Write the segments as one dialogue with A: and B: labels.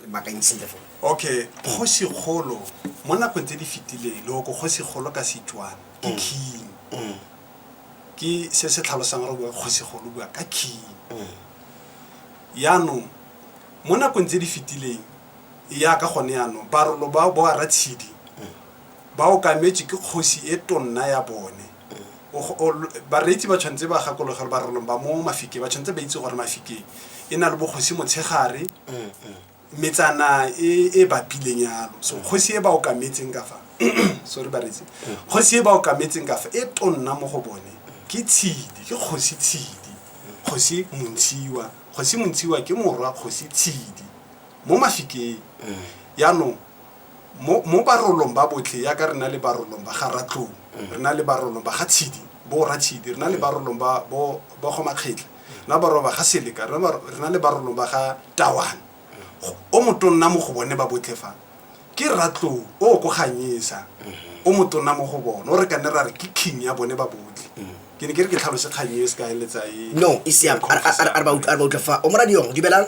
A: re bakanyisile fo okay kgosikgolo mo nakong tse di fetileng le oko kgosikgolo ka setswana ke Mm. king Mm, ke se se tlhalosang gore bua kgosikgolo bua ka king mm. yaanong mo nakong tse di fetileng ya ka gone yaanong barolo ba bo ratshidi ba okametswe ke kgosi e tonna ya bone bareetsi ba tshwanetse ba gakologe gore barolong ba mo mafike ba tshwanetse ba itse gore mafike e na le bogosi motshegare metsana e e bapileng yalo so kgosi e ba okametseng ka fa sorry bareetsi kgosi e ba okametseng ka fa e tonna mo go bone ke tshidi ke kgosi tshidi kgosi montshiwa kgosi montshiwa ke morwa kgosi tshidi mo mafikeng yaanong mo mo barolong ba botlhe yaka re na le barolong ba ga ratlou re na le barolong ba ga tshidi bo ra tshidi re na le barolong ba bo ba go makgetla re na le barolong ba ga seleka re na bar- re na le barolong ba ga tawana Go- o motonna mo go bone ba botlhe fa ke ratlou o o ko ganyesa o motonna mo go bone o re ka ne ra re ke king ya bone ba botlhe ke ne ke re ke tlhalose kgang e se ka eletsa e no e siame a re- a re- a re ba ut- a re ba utlwa fa o moradiong dubelang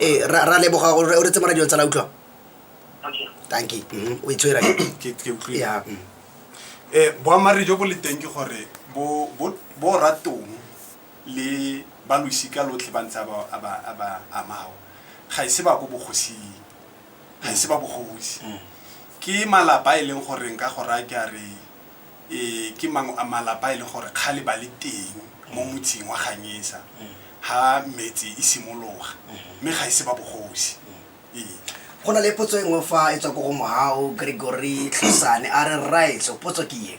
A: ee ra leboga o re tse mora dilo tsala utlwa tanki mhm, o itshwera ya um boammaarre jo bo le teng ke gore bo ratong le ba losika lotlhe ba ntse a ba amao ga e se ba ko bogosing ga e se ba bogosi mm. ke malapa e leng goreng ka go raya ke a re E, ke mangwe a malapa a e leng gore kgale ba le teng mo motseng wa ganyesa ha metse e simologa mme ga e se ba bogosi e go na le potso e nngwe fa e tswa ko go mohao gregory tlhosane a re rraetso potso ke ye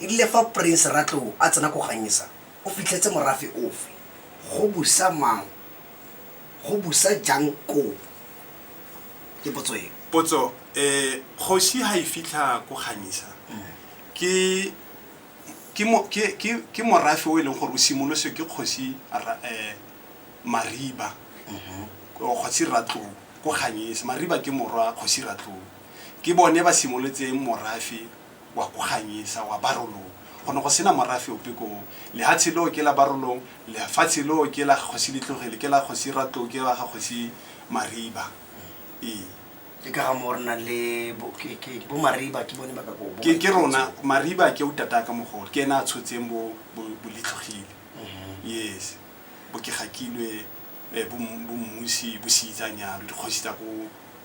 A: e rile fa prince ratlou a tsena ko ganyesa o fitlhetse morafe ofe go busa mang go busa jang koo Potso, eh kgosi ha e fitlha ko Kganyisa ke ke mo ke ke ke morafe o e leng gore o simoloswe ke kgosi eh Mariba kgosi Ratlou ko Kganyisa. Mariba ke morwa kgosi Ratlou ke bone ba simolotseng morafe wa go ganyisa wa barolong go ne go sena morafe ope koo lehatshe leo ke la barolong lefatshe leo ke la kgosi letlogele ke la kgosi ratlou ke la ga kgosi mariba ee le ka ga mo re nang le bo- ke- ke- bo mariba ke bone ba ka ko bo- ke ke rona mariba ke o tata ka mogolo ke ene a tshotseng bo bo- bo letlogile Mhm. yes bo ke gakilwe eh, bo Mmu- bo mmusi bo seitsanyalo dikgosi tsa ko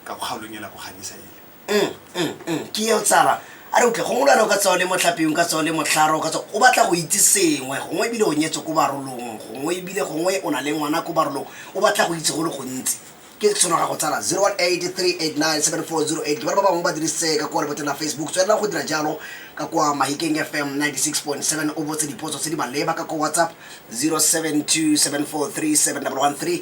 A: ka kgaolong e la ko ganyisa ele mm, mm, mm. ke eo tsala a re utlwe gongwe lwana o ka tsao le motlhapeong ka tsao le motlharo ka tsao o batla go itse sengwe gongwe ebile o nyetswe ko barolong gongwe ebile gongwe o na le ngwana ko barolong o batla go itse go le gontsi ke tshwano ga go tsala 018389740 ke ba ba bangwe ba dirisitse ka kwa leboteng la facebook tswelela go dira jalo ka kwa mahikeng fm 96.7 o botse dipotso tse di maleba ka kwa whatsapp 0727437113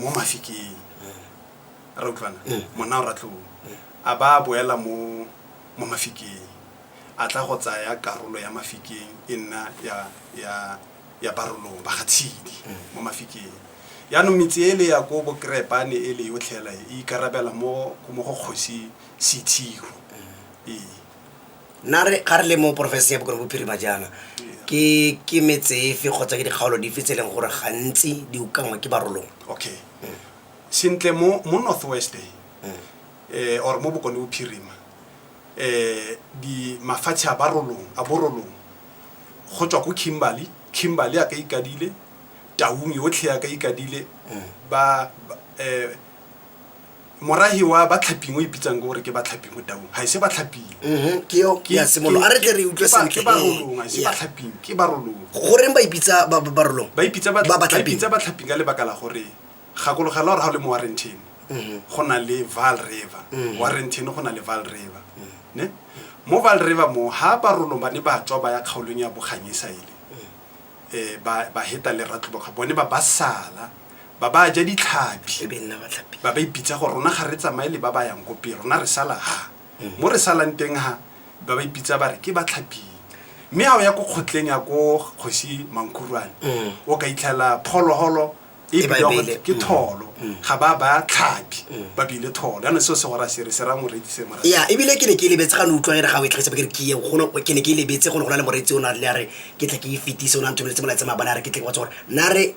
A: mo mafikeng ra utlwana Eh. monna o ratlong Eh. a ba a boela mo mo mafikeng a tla go tsaya karolo ya mafikeng e nna ya ya ya barolong ba ga tshidi Eh. mo mafikeng yaanong metse e le ya ko bokrepane e le yotlhela e ikarabela mo mo go kgosi sethiro ee nna re ga re le mo porofenseng ya bokone bophirima jaana ke ke metsefe kgotsa ke dikgaolo dife tse e leng gore gantsi di ukangwa ke barolong okay sentle mo mo northwest eh or mo bokone bophirima eh di mafatshe a barolong a borolong go tswa ko kimberley kimberley a ka ikadile taung yotlhe ya ka ikadile ba ba- eh morahi wa batlhaping o ipitsang ke gore ke batlhapi mo taung ga ise batlhaping mhm, ke yo ke ya semolo a re tle re utlwe sentle ke barolong ga ise batlhaping ke barolong goreng ba ipitsa ba barolong ba ipitsa ba ipitsa batlhaping ka lebaka la gore gakologela gore ga o le mo warrentin mhm. go na le val river mhm. warrentin go na le val river ne mo val river mo ha barolong ba ne ba tswa ba ya kgaolong ya boganyesa ele eh, ba ba heta le ratloboga bone ba ba sala ba ba ja ditlhabi e be nna batlhapi ba ba ipitsa gore rona ga re tsamaye le ba ba yang ko pele rona re sala ha Mm. mo re salang teng ha ba ba ipitsa ba re ke batlhaping mme ga o ya ko kgotleng ya ko kgosi mankhuruane Mm. o ka itlhela phologolo e ba ebile beile. ke tholo ga ba ba tlhapi ba bile tholo yana seo segora sere se ra moretsi se mora ya ebile ke ne ke lebetse ga ne utlwa ere ga o e tlhagisa ba ke re ke ye go ne- ke ne ke lebetse go ne go na le moretsi o ne a rile a re ke tle ke e fetise o ne a nthomeletse molaetse mabana a re ke tle ke batsa gore na re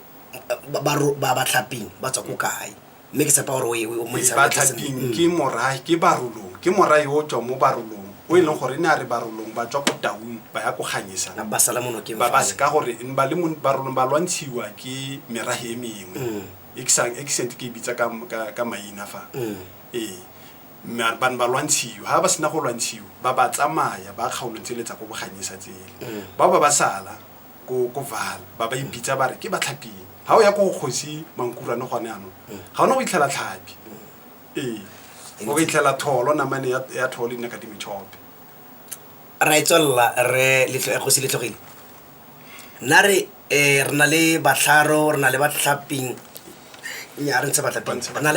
A: ba- ba ro- ba ba tlhaping ba tswa ko kae mme ke tshepa gore o e- o e montsha ba botlhe sentle. tlhaping ke morae ke barolong ke morae o tswa mo barolong o e leng gore ne a re barolong ba tswa ko taung ba ya ko ganyesa ba sala mo nokeng ba ba se ka gore ne ba le mo barolong ba lwantshiwa ke merahe e mengwe Mm. e ke sang- e ke sente ke e bitsa ka ka- ka maina fa Mm. ee mare ba ne ba lwantshiwa ga ba sena go lwantshiwa ba ba tsamaya ba kgaolong tsele tsa ko boganyesa tsele Mm. ba ba ba sala ko ko val ba ba ipitsa ba re ke batlhaping ga o ya ko go kgosi mankurane gone ano ga o ne go itlhela tlhapi o itlhela tholo namane ya tholo e nne ka dimetšhope ra e tswelela re gosi letlogile nna re um re na le batlharo re na le batlhaping nya re ntse batlaping re na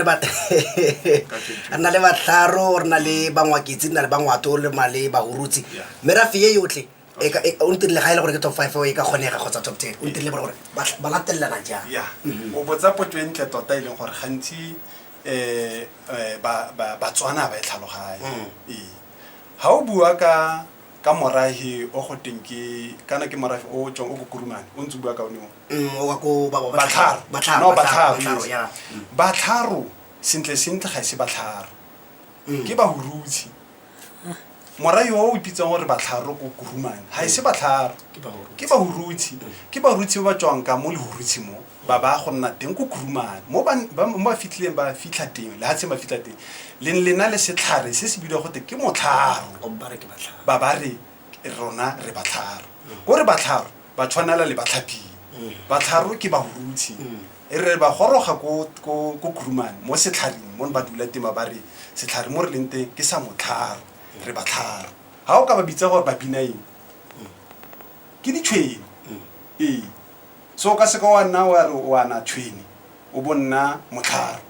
A: le batlharo re na le bangwaketsi re na le bangwato le ma le bahurutsi mme ra feye yotlhe e e, o ntirile ga e le gore ke top five e ka kgonega kgotsa top ten o ntirile gore ba latelelana jang mhm. o botsa potso e ntle tota e leng gore gantsi eh, eh, ba- ba- batswana ba e tlhaloganye Mm. ee ga o bua ka ka morahi o go teng ke kana ke morahi o tswang o kokurumane o ntse o bua ka one o Mm, o wa ko ba- ba- batlharo batlharo No, batlharo, batlharo yes. ya batlharo sentle sentle ga e se batlharo Mm. ke bahurutshe morai o o ipitsang gore batlharo ko kurumane ga e se batlharo ke bahurutshe ke barutshe ba ba tswang ka mo lehurutshe mo ba ba go nna teng ko kurumane mo ba- ba mo ba fitlhileng ba fitlha teng lehatsheng ba fitlha teng leng lena le setlhare se se bidiwa gote ke motlharo ba ba re rona re batlharo ko re batlharo ba tshwanela le batlhaping batlharo ke bahurutshe E re ba goroga ko ko Khurumane mo setlharing mo ba dula tema ba re setlhare mo re leng teng ke sa motlharo re ba tlharo ga o ka ba bitsa gore ba bina eng ke ditshwene ee so ka seka wa nna wa re o ana tshwene o bo nna motlharo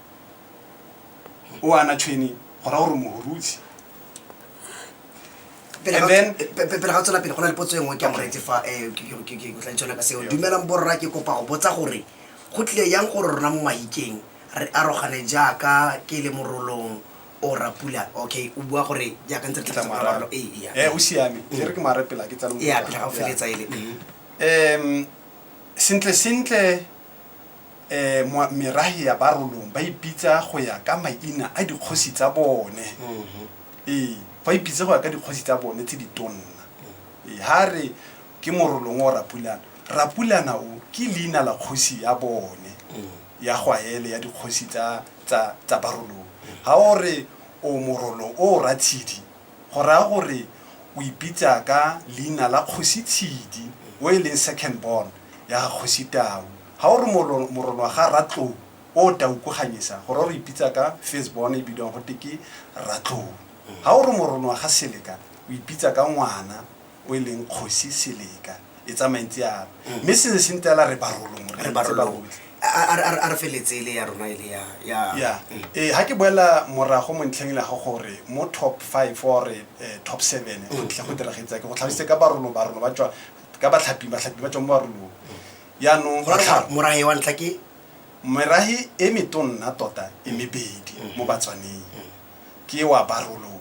A: o ana tshwene go ra gore mohurusi And then- pele ga o tswela pele go na le potso e nngwe ke a moreetse fa eh, ke- ke- ke- ke ke tla itshola ka seo dumelang borra ke kopa go botsa gore go tlile yang gore rona mo mahikeng re arogane jaaka ke le morolong o rapula okay o bua gore jaaka ntse re Ke tla tla mo araba. morolo ee ee, Eh, o siame e re ke mo arepela ke tsa lo- ee pele ga o Yeah. feletsa ele mhm. um sentle sentle eh, mwa- merahe ya barolong ba ipitsa go ya ka maina a dikgosi tsa bone Mhm. ee ba ipitse go ya ka dikgosi tsa bone tse di tonna ee ha re ke morolong o rapulana rapulana o ke leina la kgosi ya bone Mm. ya gwaele ya dikgosi tsa tsa tsa barolong ha o re o morolong o ratshidi go raya gore o ipitsa ka leina la kgosi tshidi o e leng second born ya ga kgosi tau Ha o re moro, moronwa ga Ratlou o o tau ko Ganyesa, go ra o re ipitsa ka first born e bidiwang go te ke Ratlou. Ha o re moronwa ga Seleka, o ipitsa ka ngwana o e leng Kgosi Seleka. E tsamaya ntse yalo. Mme se ne se ntse yala re barolong, re Re ntse ba barolong. botlhe. A- a- a re- a re- a re feletse ele ya rona ele ya- ya- ya Mm. ee ga ke boela morago mo ntlheng le ga gore mo top five or eh, top seven go tle go diragetsake go tlhalositse ka barolo barolo ba tswa ka batlhaping batlhapi ba tswa mo barolong yaanong Go tlhaba, morahe wa ntlha ke merahi e metonna tota e mebedi Mm. mo batswaneng ke wa barolong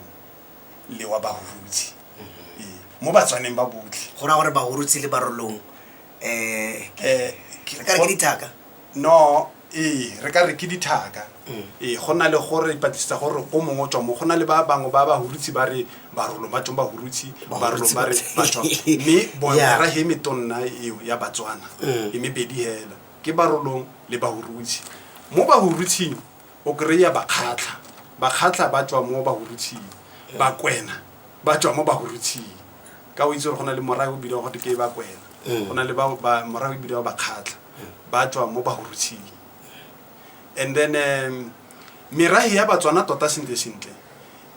A: le wa bahurutsi Mm-hmm. Ee, mo batswaneng ba botlhe go raya gore bahurutsi le barolong um Eh, ke- re ka re ke dithaka no ee re ka re ke dithaka ee go na le gore ipatlisisetsa gore o mongwe o tswa mo go na le ba bangwe ba bahurutsi ba re barolong ba tsong bahurutsi barolong ba re batswa mme boera he metonna eo ya batswana e mebedi hela ke barolong le bahurutsi mo bahurutsing o kry-a bakgatlha bakgatlha ba tswa mo bahurutsing bakwena ba tswa mo bahurutsing ka o itse gore go na le morae o bidiwa gote ke bakwena go na le morae o bidiwa bakgatlha ba tswa mo bahurutsing and then um, merahe ya batswana tota sentle sentle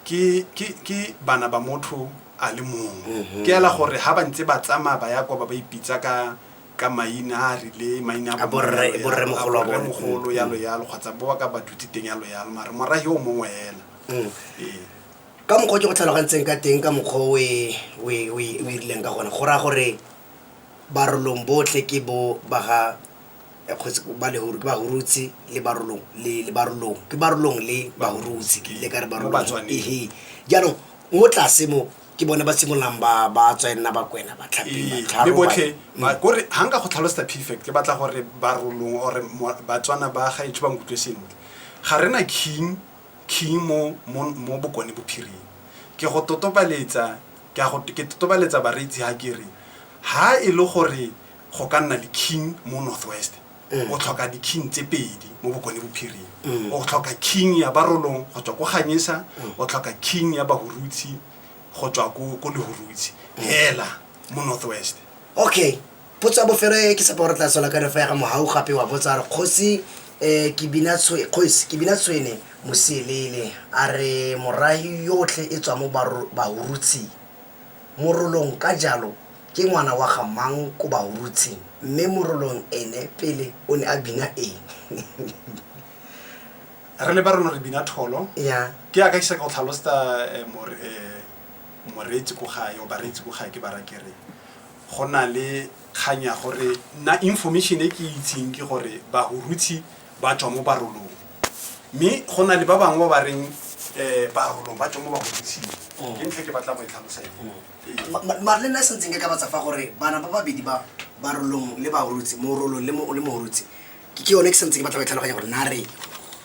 A: ke ke- ke bana ba motho a le mongwe ke ela gore ha ba ntse ba tsamaya ba ya kwa ba ba ipitsa ka ka maina a a rile maina A bo rre- bo rremogolo wa bone. rremogolo yalo yalo kgotsa bo ba ka ba dutse teng yalo yalo mare morahe o mongwe ela Mm. ee ka mokgwa o ke go tlhalogantseng ka teng ka mokgwa o e- o e o e- o e rileng ka gone go raya gore barolong botlhe ke bo ba ga kgotsi ba le gore ke ba hurutse le barolong le le barolong ke barolong le ba hurutse ke ile ka re barolong Batswaneng. ehe jaanong mo tlase mo ke bone ba simololang ba ba tswa e nna bakwena ba tlhapi Ee, batlharo, le botlhe ba- ba- kore ga nka go tlhalosetsa pfect ke batla gore barolong ore mo- batswana ba gaetsho ba nkutlwe sentle ga re na king king mo mo mo bokone bophiring ke go totobaletsa ke a go ke totobaletsa bareetsi ha ke re ha e le gore go ka nna le king mo north west mm. o tlhoka di-king tse pedi mo bokone bophiring mm. o tlhoka king ya barolong go tswa ko ganyesa mm. o tlhoka king ya bahurutshi go tswa ko lehurutshi hela mo north west okay potso ya bofelo e ke sepa gore tla sola ka refa ya ga mogau gape wa botsa re kgosi um kgosi kebina tshwene moselele a re morahi yotlhe e tswa mo bahurutshing Morolong ka jalo ke ngwana wa ga mang ko Bahurutsing mme Morolong ene pele o ne a bina eng? Re le Barolong re bina tholo. Ya. Ke yaka ke seka go tlhalosta moreetsi ko gae or bareetsi ko gae ke ba raya ke re go na le kgang ya gore nna information e ke itseng ke gore Bahurutsi ba tswa mo barolong mme go na le ba bangwe ba ba reng um barolong ba tswa mo bagodising Mm. ke ntlha ke batla go e tlhalosa eo. Ma- ma- mare le nna se ntseng ke ka batsa fa gore bana ba babedi ba ba rolong le ba orotse mo rolong le mo le mo orotse ke ke yone ke sentse ke batla go e tlhaloganya gore na re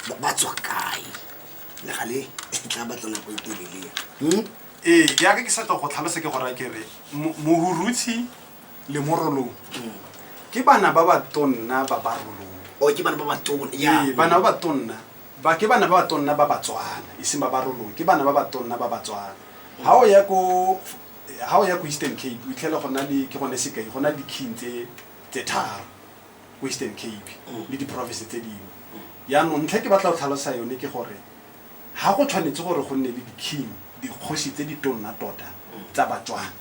A: ba- ba tswa kae le gale e tla batla nako e telele Hmm? ee yaka ke sa tlo go tlhalosa ke gore ke re mo- mohurutshi le mo rolong ke bana ba ba tonna ba ba rolong o Oh, ke bana ba ba tona ya Ee, bana ba ba tonna ba ke bana ba ba tonna ba batswana e seng ba ba rolong ke bana ba ba tonna ba batswana ga o ya ko ga o ya ko eastern cape o itlhele go na le ke gone sekai go na le di-king tse tse tharo ko eastern cape le di-province tse dingwe yaanong ntlha e ke batla go tlhalosa yone ke gore ga go tshwanetse gore go nne le di-king dikgosi tse di tonna tota tsa batswana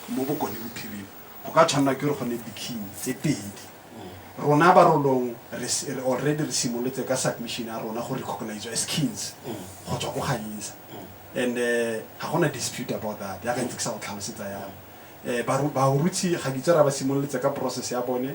A: mo bokone bophirima go ka tshwanela ke gore go ne di-king tse pedi rona ba rolong re s- re already re simolotse ka submission ya rona go recognize as kings go tswa ko ganyisa and eh, ga gona dispute about that ya gantse ke sa go tlhalosetsa yalo um baruti ga ditse ra ba simololetse ka process ya bone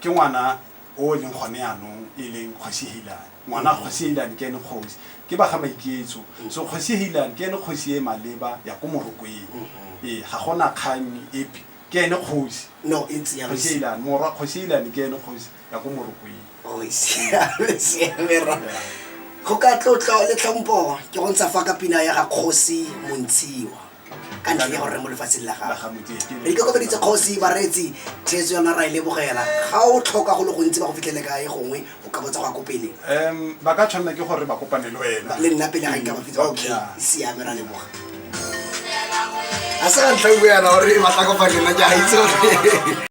A: ke ngwana o e leng gone yanong e leng kgosi helan ngwana mm-hmm. kgosi helan ke ene kgosi ke ba ga maiketso mm-hmm. so kgosi helan ke ene kgosi e maleba ya ko morokweng mm-hmm. ee ga gona kgang epe ke ene kgosi kgosi helan morwa kgosi helan ke ene kgosi ya ko morokweng oh, go ka tlotlo le tlhompho ke go ntsha fa ka pina ya ga kgosi montshiwa ka ntlha ya gore re mo lefatsheng la gago re ikokobeditse kgosi bareetsi theetso yona ra e lebogela ga o tlhoka go le gontsi ba go fitlhele kae gongwe o ka botsa go ya ko pele um ba ka tshwanela ke gore ba kopane le wena le nna pele ga nka ba fitsa okay Yeah. siame ra leboga a se ka ntlha o buana gore ba tla kopane le nna ke a itse gore